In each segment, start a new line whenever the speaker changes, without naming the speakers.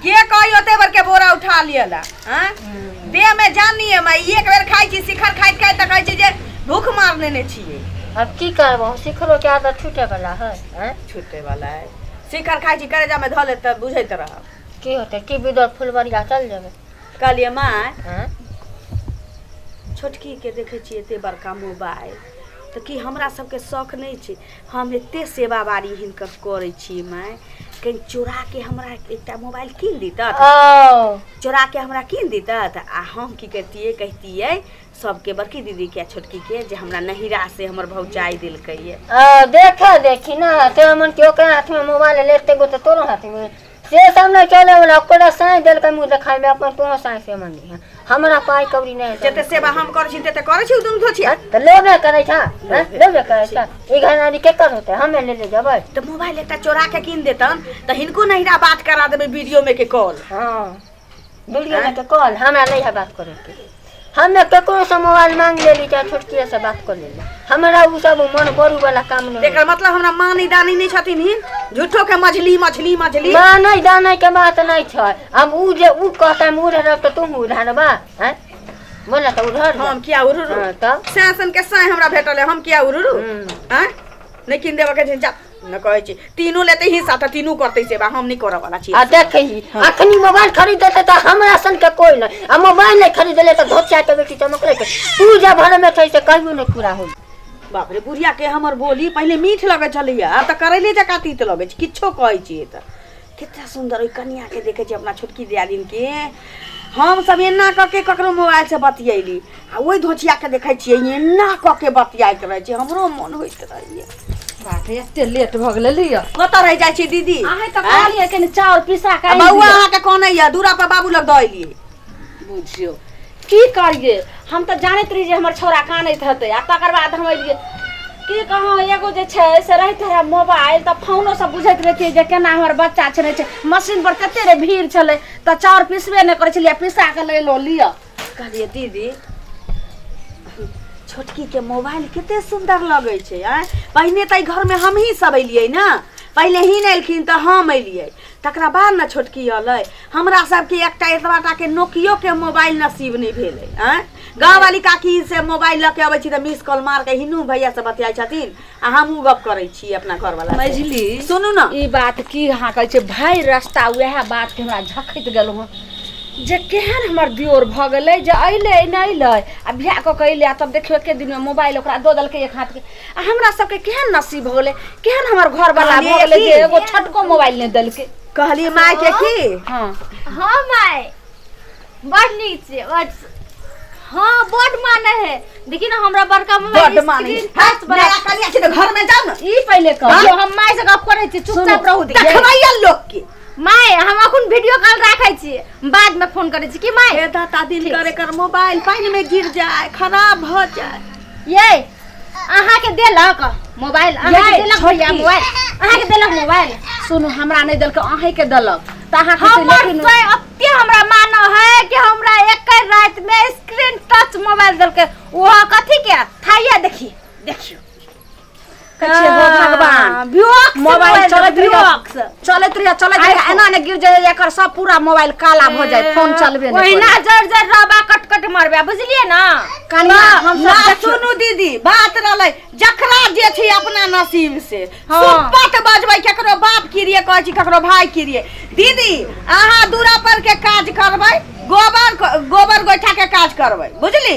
के कही ओते भर के बोरा उठा लियला हैं देह में जान नहीं है माई एक बेर खाई छी शिखर खाइत खाइत त कहै छी जे भूख मार लेने छिए अब की करबो
सिखरो के आदत छूटे वाला है हैं? छूटे वाला है
शिखर खाई छी करेजा में धऽ ले त बुझैत रह की होते की
बिदर फुलवरिया चल जेबे कहलिए माय
हैं?
छोटकी
के देखै छी एते बड़का मोबाइल त की हमरा सबके शौक नहीं छै हम एतेक सेवा बारी हिनकर करै छियै माय कहीं चोरा के हमरा एकटा मोबाइल कीन दीतत चोरा के हमरा कीन दीतत आ हम की करतियै कहतियै सबके बड़की दीदी के आ छोटकी के जे हमरा नहिरा से हमर भौजाई देलकै ये आ, देखा देखी
ना तो मन के ओकरा हाथ में मोबाइल लेते गो तो तोरो हाथ में से सब नहि चले वाला ओकरा साँइ देलकै मुँह देखाय में अपन कोनो साँइ से मन नहीं है हमरा पाई कौड़ी नहीं जते है सेवा हम करै छी
तते करै छी दुनू धोछिया तो लेबे करे था
हैं? लेबे करे था ई घनारी के कर होते हमें ले ले जबै तो मोबाइल एकटा चोरा
के कीन देतन तो हिनको नहिरा बात करा देबे वीडियो में के कॉल हाँ
बुझलियै ने तऽ कहल हमरा नहि है बात करैके हमे ककरो से मोबाइल मांग लेली चाहे छोटकिए से बात कर लेली हमरा उ सब मन बरू वाला काम नहीं एकर मतलब हमरा मानी
दानी नहीं छथिन ही झूठो के मछली मछली मछली मानै दानै के
बात नहीं छै हम उ जे उ कहता हम उड़ रहब तऽ तुम उड़ानबा हैं बोला तऽ उड़हर हम किया उड़ू हाँ,
तब सैसन के
साय हमरा
भेटल है हम किया उड़ू हम्म। हैं नहीं किन देबा के छै जा न कहै छी तीनू लेते हिस्सा तऽ तीनू करतै सेवा हम नहि करऽ वाला छी आ देखै ही
अखनी मोबाइल खरीद देते तऽ हमरा सन के कोई नहीं आ मोबाइल नहीं खरीद ले तो धोतिया के बेटी चमकले के तू जब भर में थे से कहियो नहीं पूरा हो बाप रे बुढ़िया
के हमर बोली पहिले मीठ लगै छलैया आब तऽ करैले जकाँ तीत लगै छै किछो कहै छियै तऽ कतेक सुन्दर ओहि कनियाँके देखै छियै अपना छोटकी दियादिनके हमसभ एना कऽ के ककरो मोबाइलसँ बतियैली आ ओहि धोचियाके देखै छियै एना कऽ के बतियाइत रहै छै हमरो मोन होइत रहैए बाप रे
एते लेट भऽ गेलै लिअ कतऽ रहि जाइ छी दीदी
अहाँ तऽ आँय? कहलियै कनि
चाउर पिसा आ कऽ बौआ अहाँके कोन
यऽ दूरा पर बाबू लग दऽ एलियै बुझियौ
की करिए हम तऽ जानैत रही जे हमर छौड़ा कानैत हेतै आ तकर बाद हम अलियै की कहौं एगो जे छै से रहित रहै मोबाइल तऽ फोनो सब बुझैत रहितियै जे केना हमर बच्चा छै छै मशीन पर कते रे भीड़ छलै तऽ चाउर पिसबे नहि करै छलियै पिसा कऽ लए लो लिअ कहलियै दीदी
छोटकी के मोबाइल कते सुंदर लगै छै आँय पहिने तऽ एहि घरमे हमही सब एलियै ने पहिले ही नहि एलखिन तऽ हम एलियै तकरा बाद ने छोटकी अलै हमरा सबके एकटा एतबा टाके नोकियोके मोबाइल नसीब नहि भेलै आँय गाँववाली काकी से मोबाइल लऽ के अबै छी तऽ मिस कॉल मार के हिनू भैया से बतियाइ छथिन आ हमहूँ गप करै छी अपना घरवाला से। मझली सुनू ने
ई बात
की अहाँ
कहै छै भरि रास्ता उएह बात के हमरा झखैत गेलहुँ हँ जे केहन हमर दियोर भऽ गेलै जे अयलै नहि अयलै आ बियाह कऽ के अयलै आ तब देखियौ एके दिनमे मोबाइल ओकरा दऽ देलकै एक हाथके आ हमरा सबके केहन नसीब हो गेलै केहन हमर घर वाला कहलियै भऽ गेलै कि- जे एगो छोटको मोबाइल नहि देलकै कहलिए माय के
की हँ
हाँ माय
बड नीक छै बड हाँ बड माने है देखी ना हमरा बड़का मोबाइल बड माने है। स्क्रीन टच
बड़ा नया कनिया छै तऽ घर में जाओ ना ई पहिले कह जो
हम माय से गप करै छी चुपचाप रहू दी देखबैया लोग के
माय हम अखन
वीडियो कॉल राखै छी बाद में फोन करै छी की माय हे दाता दिन करे
कर मोबाइल पानी में गिर जाए खराब हो जाए ये
अहाँ के देलक मोबाइल अहाँ के ये, देलक छोटी। भैया मोबाइल अहाँ के देलक मोबाइल सुनू हमरा नहि
देलक अहीं के देलक त अहाँ के हमर लेकिन तो अत्य
हमरा मानो है कि हमरा एक रात में स्क्रीन टच मोबाइल देलके वो कथी के थाइया देखी देखियो
कहै छियै हो भगवान हाँ, ब्योक से मोबाइल मोबाइल चलैत देबै, रहैया ब्योक से। चलैत रहैया चलैत रहैया iPhone। एना ने गिर जाइए एकर सब पूरा मोबाइल काला भऽ जाए फोन चलबे नहि ओहिना करै। जड़ जड़ रहबा
कट कट मरबा बुझलिए ना कनिया हम
ना सब देखियौ। सुनू दीदी बात
रहलै जकरा जे छै अपना नसीब से हाँ। सुपत बजबै केकरो बाप किरिए कहै छी केकरो भाय किरिए दीदी अहाँ दूरा पर के काज करबै गोबर गोबर गोइठा के काज करबै बुझली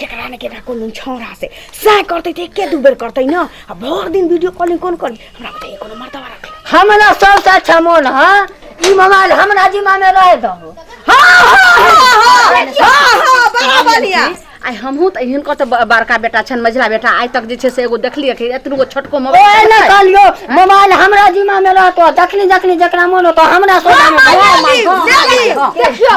केकरा ने केकरा कोनो छौड़ा से सह करते थे के दू बेर करते ना आ भर दिन वीडियो कॉलिंग कोन कर हमरा बताइए कोनो मर्दवा रख ले हमरा सबसे
अच्छा मोन है ई मोबाइल हमरा जिम्मा में रह दहो
आई हमहू त
हिनको त ब- बड़का बेटा छन मझला बेटा आइ तक जे छै से एगो देखलिए कि एतनु गो छोटको ओए मोबाइल ने
कहलियो मोबाइल हमरा जिम्मा में रहतो जखनी जखनी जकरा मोन होतो हमरा सोचा में भगवान मांगो। देखियो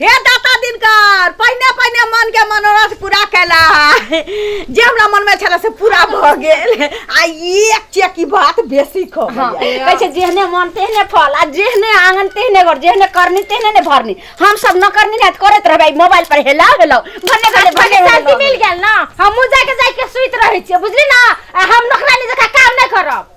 हे दाता दिनकर पहिने पहिने मन के मनोरथ पूरा कैला जे हमरा मन में छला से पूरा भ गेल आ एक चेकी बात बेसी ख हाँ, कहै छै जेहने
मन तेहने फल आ जेहने आंगन तेहने घर जेहने करनी तेहने ने भरनी हम सब न करनी ना त करत रहबै मोबाइल पर हेला हेला भन्ने भन्ने भने भन्ने शांति मिल गेल
ना हमहू जाके जाके सुइत रहे छियै बुझली ना आ हम नौकरानी जका काम नहीं करब